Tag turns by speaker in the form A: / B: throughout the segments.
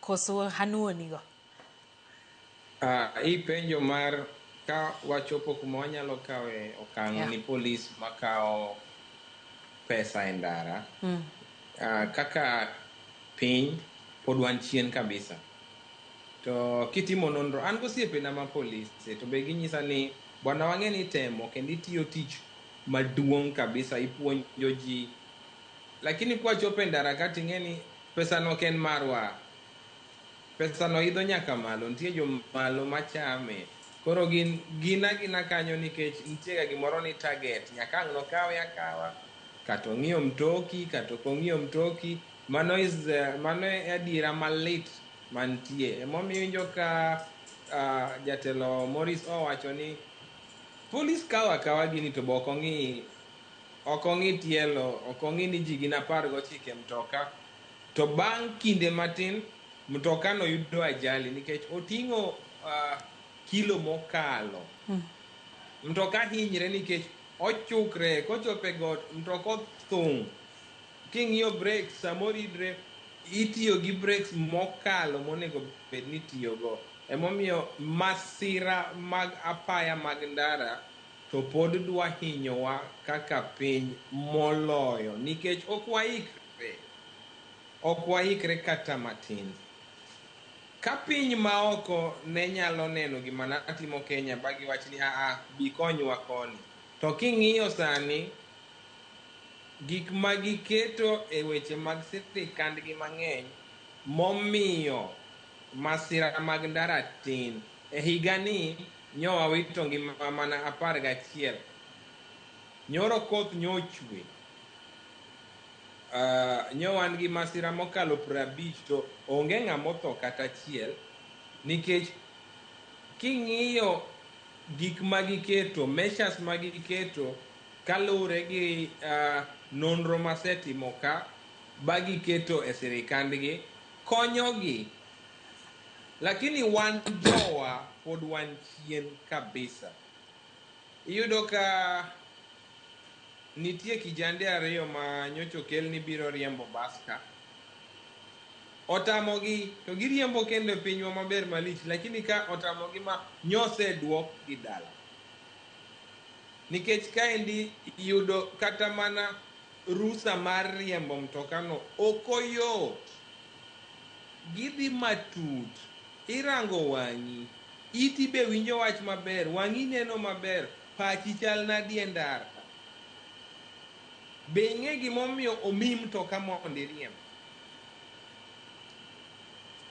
A: koso hanuoni go? Ah, hii
B: penjo mar ka wachopo kuma wanyalo kawe okang' yeah. ni polis makawo pesa e ndara mm. uh, kaka piny pod wan chien kabisa to kitimo nonro an gosiepena ma polis e, to be ginyisa ni bwana wang'e ni temo kendo itiyo tich maduong' kabisa ipuonjo ji lakini kwachopo e ndara ka ting'e ni Pesano ok en marwa. Pesano idho nyaka malo. Nitie jo malo machame. Koro gin, gin agina kanyo nikech nitiega gimoro ni target. Nyaka ang' nokawe akawa. Kata ong'iew mtoki, kata ok ong'iew mtoki. Mano is, uh, mano e adiera malit mantie. Emomiyo injo ka uh, jatelo Morris owacho ni polis kawo akawa gini to be ok ong'i Ok ong'i tielo, ok ong'i ni ji gin apar gochiko e mtoka. To bang' kinde matin, mtokano yudo ajali nikech oting'o uh, kilo mokalo. Hmm. Mtoka hinyre nikech ochukre, kochopo e got, mtoka othung'. King'iyo brek, samoro idre itiyo gi brek mokalo monego bed ni itiyogo. Emomiyo masira mag apaya mag ndara to pod dwa hinyowa kaka piny moloyo nikech ok waikre. Ok waikre kata matin. Ka piny maoko ne nyalo neno gima natimo Kenya ba giwach ni aa bi konywa koni. To king'iyo sani, gik ma giketo e weche mag sirikandgi mang'eny momiyo masira mag ndara tin. E higani, Nyo awito ngima mana apar gachiel. Nyoro koth nyo ochwe. Uh, nyo wan gi masira mokalo prabich to onge ng'ama otho kata achiel nikech king'iyo gik ma giketo measures ma giketo kaluwore gi uh, nonro masetimo ka ba giketo e sirikandgi konyogi Lakini wan jowa pod wan chien kabisa. Iyudo ka nitie kijande ariyo ma nyocha okel ni biro riembo bas ka. Otamogi to giriembo kendo e pinywa maber malich lakini ka otamogi ma nyoseduok gi dala. Nikech kaendi yudo kata mana rusa mar riembo mtokano ok oyot. Gidhi matut. Irango wang'i. Iti be winjo wach maber. Wang'i neno maber. Pachi chal nadi e ndara. Be ing'e gimomiyo omiyi mtoka mondo iriemb?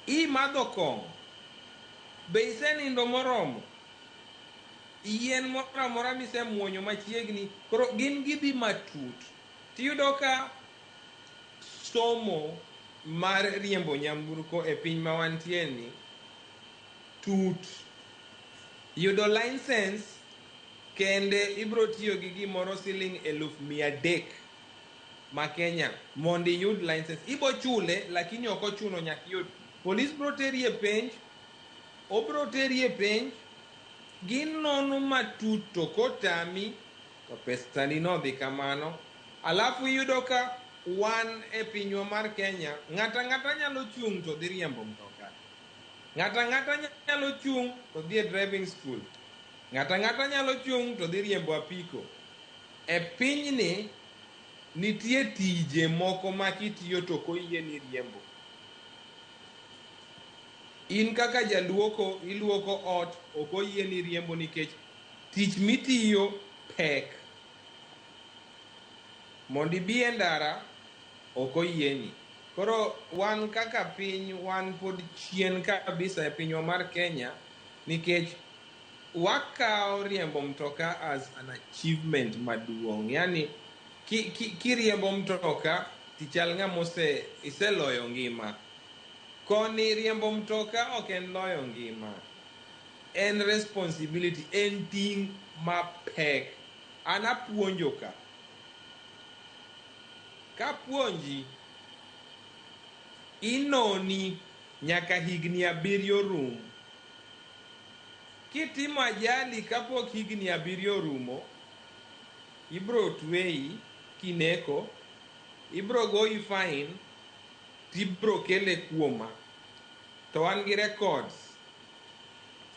B: I madho kong'o. Be isenindo moromo? Yien moro amora misemuonyo machiegni. Koro gin gidhi matut. Tiyudo ka. somo mar riembo nyamburko e piny ma wantie ni tut. Yudo license kende ibro tiyo gi gimoro siling eluf mia adek ma Kenya mondo iyud license. Ibo chule lakini ok ochuno nyaka iyud. Polis bro teri e penj, obro teri e penj, ginono matut to kotami To pestani nodhi kamano. Alafu iyudo ka wan e pinywa mar Kenya, ng'ata ng'ata nyalo chung' to dhi riembo mtoka. Ng'ata ng'ata nyalo chung' to dhi e driving school. Ng'ata ng'ata nyalo chung' to dhi riembo apiko. E pinyni nitie tije moko ma kitiyo to ok oyie ni iriembo. In kaka jaluoko, iluoko ot, ok oyie ni iriembo nikech Tich mitiyo pek. Mondo ibi e ndara ok oyieni. Koro wan kaka piny wan pod chien kabisa e pinywa mar Kenya nikech wakawo riembo mtoka as an achievement maduong'. Yani kiriembo mtoka tichal ng'ama iseloyo ngima. Koni riembo mtoka ok en loyo ngima. En responsibility, en ting' mapek. An apuonjo ka. Kapuonji, inoni nyaka higni abiriyo rum. Kitimo ajali kapok higni abiriyo orumo, ibro tweyi kineko, ibro goyi fine tibro kele kuoma to an gi records.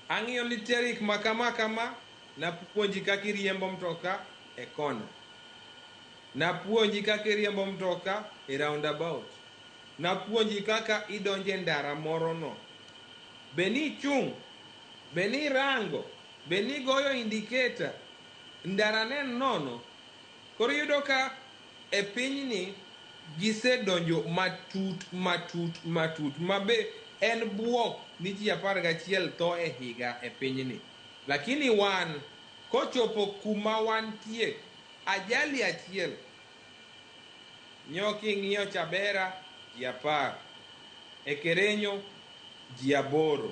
B: Ang'iyo literik ma kama kama, napuonji kaka iriembo mtoka e kona. Napuonji kaka iriembo mtoka e roundabout. Napuonji kaka idonjo e ndara morono. Be nichung'? Be nirango? Be nigoyo indicator? Ndarano en nono. Koro iyudo ka. e pinyni gisedonjo matut, matut, matut, ma be en bwok ni ji apar gachiel tho e higa e pinyni. Lakini wan, kochopo kuma wantie, ajali achiel nyo king'iyo Chabera ji apar, Ekerenyo ji aboro.